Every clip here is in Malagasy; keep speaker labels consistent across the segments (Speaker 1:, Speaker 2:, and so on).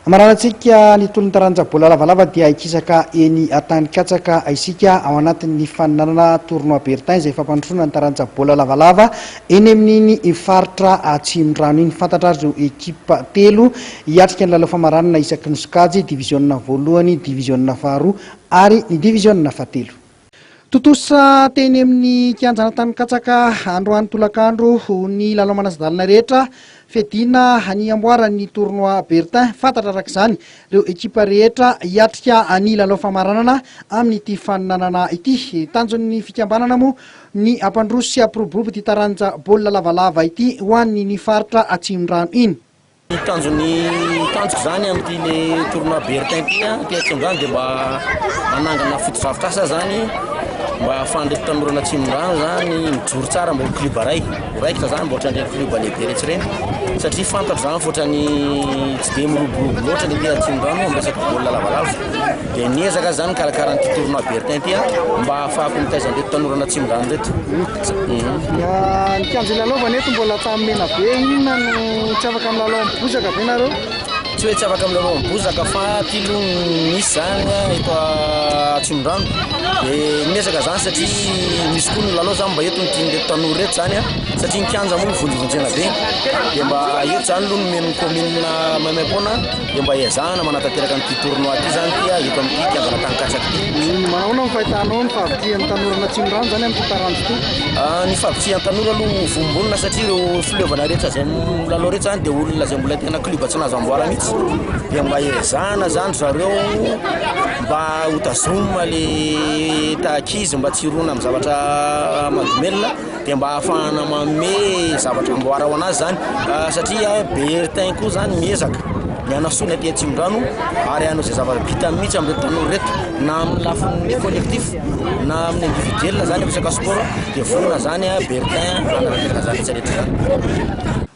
Speaker 1: Amaranan-tsika ny tolon'ny taranja baolina lavalava dia hikisaka eny Antanikatsaka isika ao anatin'ny faninanana Tournoi Bertin izay fampandrosoana ny taranja baolina lavalava eny amin'iny faritra Atsimondrano iny. Fantatra ary ireo ekipa telo hiatrika ny lalao famaranana isaky ny sokajy, diviziona voalohany, diviziona faharoa ary ny diviziona fahatelo. Tontosa teny amin'ny kianjan'Antanikatsaka androany tolakandro ny lalao manasa-dalana rehetra fiadiana ny amboaran'ny tournoi Bertin. Fantatra araka izany ireo ekipa rehetra hiatrika ny lalao famaranana amin'ity faninanana ity. Tanjon'ny fikambanana moa ny hampandroso sy hampiroborobo ity taranja baolina lavalava ity ho an'ny ny faritra Atsimondrano iny. Ny tanjon'ny
Speaker 2: tanjoko izany amin'ity le tournoi Bertin ity an, ity Atsimondrano dia mba hanangana fotodrafitrasa izany mba ahafahan'ireto tanoran'ny Atsimondrano izany mijoro tsara mba ho club iray, ho raikitra izany mba ohatran'ireny club lehibe rehetra ireny satria fantatro izany fa ohatran'ny tsy dia miroborobo loatra ny aty Atsimondrano amin'ny resaka baolina lavalava. Dia niezaka aho izany nikarakara an'ity tournoi Bertin ity an mba ahafahako mitaiza an'ireto tanoran'ny Atsimondrano ireto.
Speaker 1: Ny kianja ilalaovana eto mbola tany Menabe, inona no tsy afaka milalao amin'ny bozaka ve nareo? Tsy hoe tsy afaka
Speaker 2: milalao amin'ny bozaka fa aty aloha misy zany eto Atsimondrano dia miezaka zany satria misy koa ny lalao zany mba eto ny tian'ireto tanora ireto zany satria ny kianja moa mivonjovonjena be dia mba eto zany aloha no omen'ny kaominina maimaim-poana dia mba ezahana manatanteraka an'ity tournoi ity zany ity a eto amin'ity kianjana tanin-katsaka ity. Manahoana ny fahitanao
Speaker 1: ny fahavitrihan'ny tanora Natsimondrano zany amin'ity taranja ity? Ah, ny fahavitrihan'ny
Speaker 2: tanora aloha vombonina satria ireo fileovana rehetra izay milalao rehetra zany dia olona izay mbola tena club tsy nahazo amboara mihitsy dia mba ezahana zany ry zareo mba hotazomina le taha-ankizy mba tsy hirona amin'ny zavatra mahadomelina. dia mba hahafahana manome zavatra amboara ho an'azy zany satria bertin koa zany miezaka ny hanasoa ny aty Atsimondrano ary hanao izay zava-bitany mihitsy amin'ireto tanora ireto na amin'ny lafiny collectif na amin'ny individuel zany resaka sport dia vonona zany bertin hanatanteraka izany rehetra rehetra izany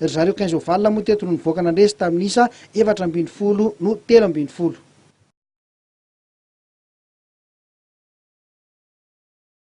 Speaker 1: Ry zareo quinze ovales moa teto no nivoaka nandresy tamin'ny isa efatra ambin'ny folo no telo ambin'ny folo.